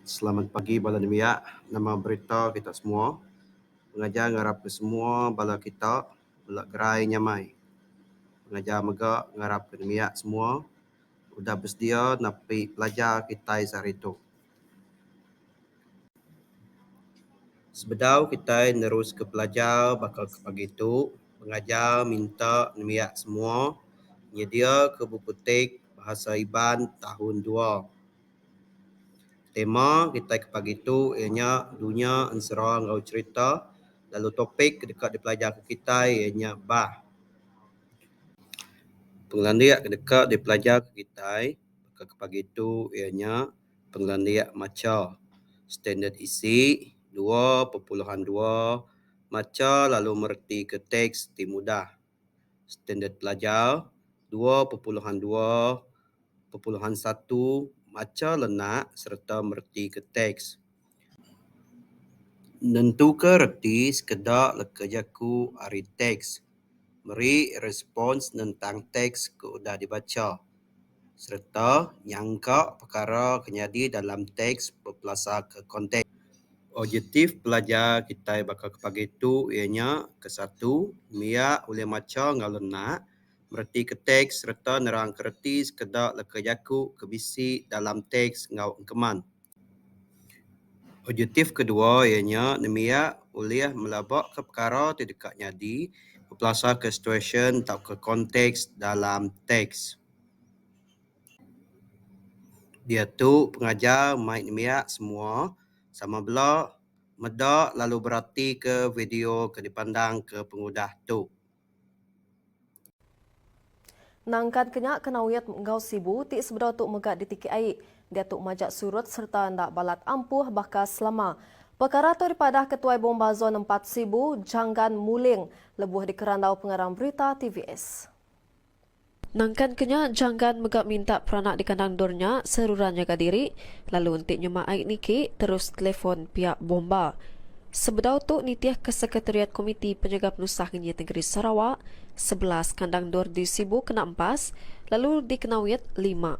Selamat pagi bala nembiak. Nama berita kita semua. Pengajar ngarap ke semua bala kita bela gerai nyamai. Pengajar mega ngarap ke nembiak semua. udah besedia napi pelajar kitai sehari tu. Sebedau kitai neruska pelajar baka ke pagi tu, pengajar minta nembiak semua nyediaka buku tik Bahasa Iban Tahun Dua. Tema kitai ke pagi tu iya nya Dunya Ensera enggau Cherita lalu topik ke deka dipelajarka kitai iya nya Bah. Pengelandik ke deka dipelajar kitai ke pagi tu iya nya pengelandik macha standard isi dua pepuluhan dua macha lalu mereti ke teks ti mudah standard pelajar dua pepuluhan dua pepuluhan satu macha lenak sereta mereti ke teks. Nentuka reti sekeda leka jaku ari teks. Meri respons nentang teks ke udah dibacha sereta nyangka pekara ke nyadi dalam teks bepelasarka konteks. Objektif pelajar kitai baka ke pagi tu iya nya ke satu mia ulih macha enggau lenak, meretika teks sereta nerangka reti sekeda leka jaku ke bisi dalam teks enggau engkeman. Objektif kedua iya nya nembiak ulih melaba ka pekara ti deka nyadi bepelasa ka situasyen tauka konteks dalam teks diatu pengajar mai nembiak semua sama bela meda lalu beratika video ke dipandang ka pengudah tu. Nangkan ke nya Kanawit enggau Sibu ti sebedau tu mega ditiki ai diatu majak surut sereta enda balat ampuh baka selama. Pekara tu dipadah Ketuai Bomba Zon Empat Sibu, Janggan Muling lebuh dikerandau pengarang berita tvs. Nangkan ke nya, Janggan mega minta peranak di kandang endur nya seruran nyaga diri lalu enti nyema ai niki terus telefon piak bomba. Sebedau tu nitihka Sekretariat Komiti Penyaga Penusah Ngenyit Nengeri Sarawak, sebelas kandang endur di Sibu kena empas lalu di Kenawit, lima.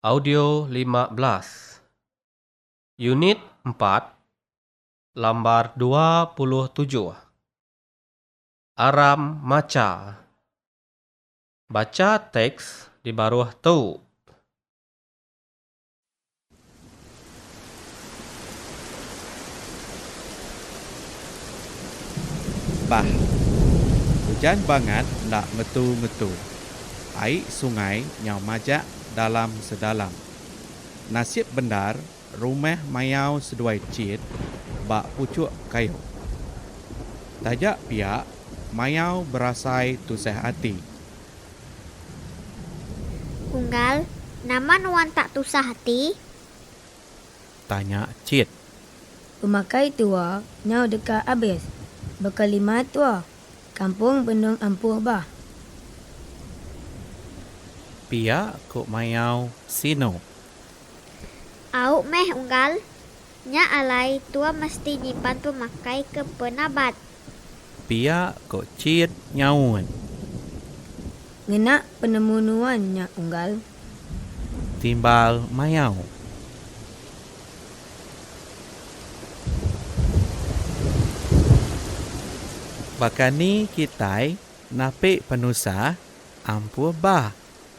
Audio lima belas. Unit empat lambar dua puluh tujuh. Aram macha. Bacha teks di baruh tu. Bah. Ujan bangat enda ngetu-ngetu. Ai sungai nyau majak dalam sedalam. Nasib bendar Rumah mayau seduai chin ba puchuk kayu. Taja pia mayau berasai tusah ati. Unggal, nama nuan tak tusah ati? Tanya chin. Pemakai tua nyau deka abis. Baka lima tua. Kampung benung ampuh bah. Pia ku mayau sinu. Au meh unggal. Nya alai tua mesti nyimpan pemakai ke penabat. Pia ko Cid nyaut. Ngena penemu nuan nya unggal. Timbal mayau. Baka ni kitai napi penusah ampuh bah.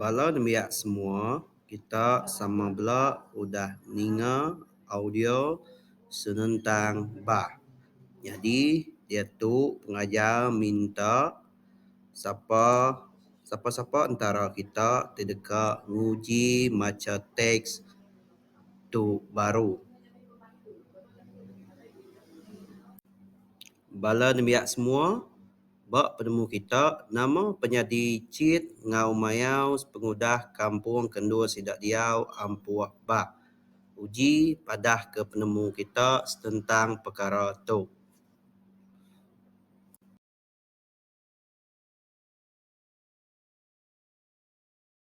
Bala nembiak semua, kita sama bela udah ninga audio senentang bah. Nyadi diatu pengajar minta sapa sapa-sapa entara kita ti deka nguji macha teks tu baru. Bala nembiak semua, ba penemu kita, nama penyadi chit enggau mayau sepengudah kampung kendur sida diau ampuh ba uji padah ke penemu kita setentang pekara tu.